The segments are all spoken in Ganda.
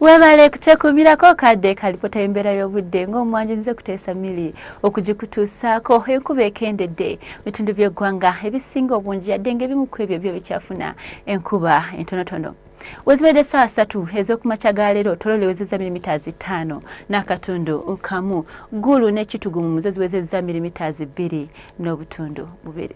Webale kutekumirako kadde kalipota y'embeera y'obudde ng'omwanjo nze kuteesa mili okugikutuusaako enkuba ekendedde mu bitundu by'eggwanga ebisinga obungi yadde ng'ebimu ku ebyo byo bikyafuna enkuba entonotono wezibadde saawa satu ez'okumakya ga leero tololo ewezezza milimitaazi ttaano n'akatundu kamu ggulu n'ekitugu mu muzo ziwezezza milimitaazi bbiri n'obutundu bubiri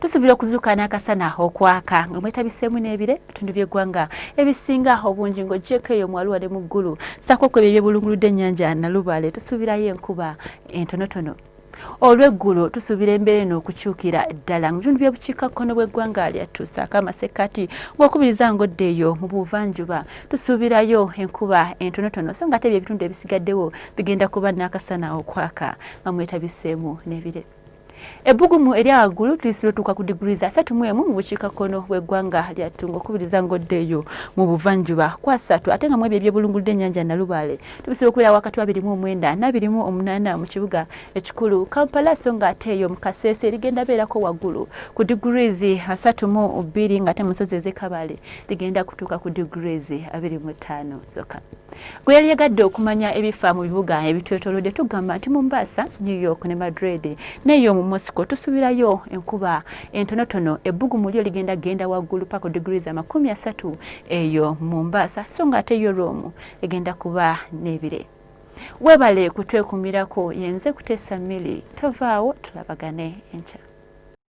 tusuubira okuzuuka n'akasana okwaka nga mwetabiseemu n'ebire bitundu by'eggwanga ebisinga obungi ng'ogyeko eyo mwaluwa ne mu ggulu saako kwebyo ebyebulunguludde ennyanja nalubaale tusuubirayo enkuba entonotono olweggulo tusuubira embeera eno okukyukira ddala mu bitundu by'obukiikakkono bw'eggwanga lyattu saako amasekkati ng'okubiriza ngodde eyo mu buvanjuba tusuubirayo enkuba entonotono so nga ate bye ebitundu ebisigaddewo bigenda kuba n'akasana okwaka nga mwetabiseemu n'ebire Ebbugumu erya waggulu tulisi lwotuuka ku diguli za satu mu emu mu bukiikakkono bw'eggwanga lya Ttunga okubiriza ng'oddeeyo mu buvanjuba kwa satu ate nga mu ebyo ebyebulunguludde ennyanja Nalubaale tubisira okubeera wakati wa birimu omwenda n'abirimu omunaana mu kibuga ekikulu Kampala so nga ate eyo mu Kasese erigenda beerako waggulu ku diguli asatu mu bbiri ng'ate mu nsozi ez'e Kabale ligenda kutuuka ku diguli abiri mu ttaano zokka. Gwe yali yagadde okumanya ebifa mu bibuga ebitwetolodde tugamba nti Mombasa, New York ne Madrid neyo mu Moscow tusubirayo enkuba entonotono ebbugumu lyo ligenda genda waggulu paka ku degrees amakumi asatu eyo Mombasa so nga ate yo Rome egenda kuba n'ebire. Webale kutwekumirako yenze kutesa mili tovaawo tulabagane enkya.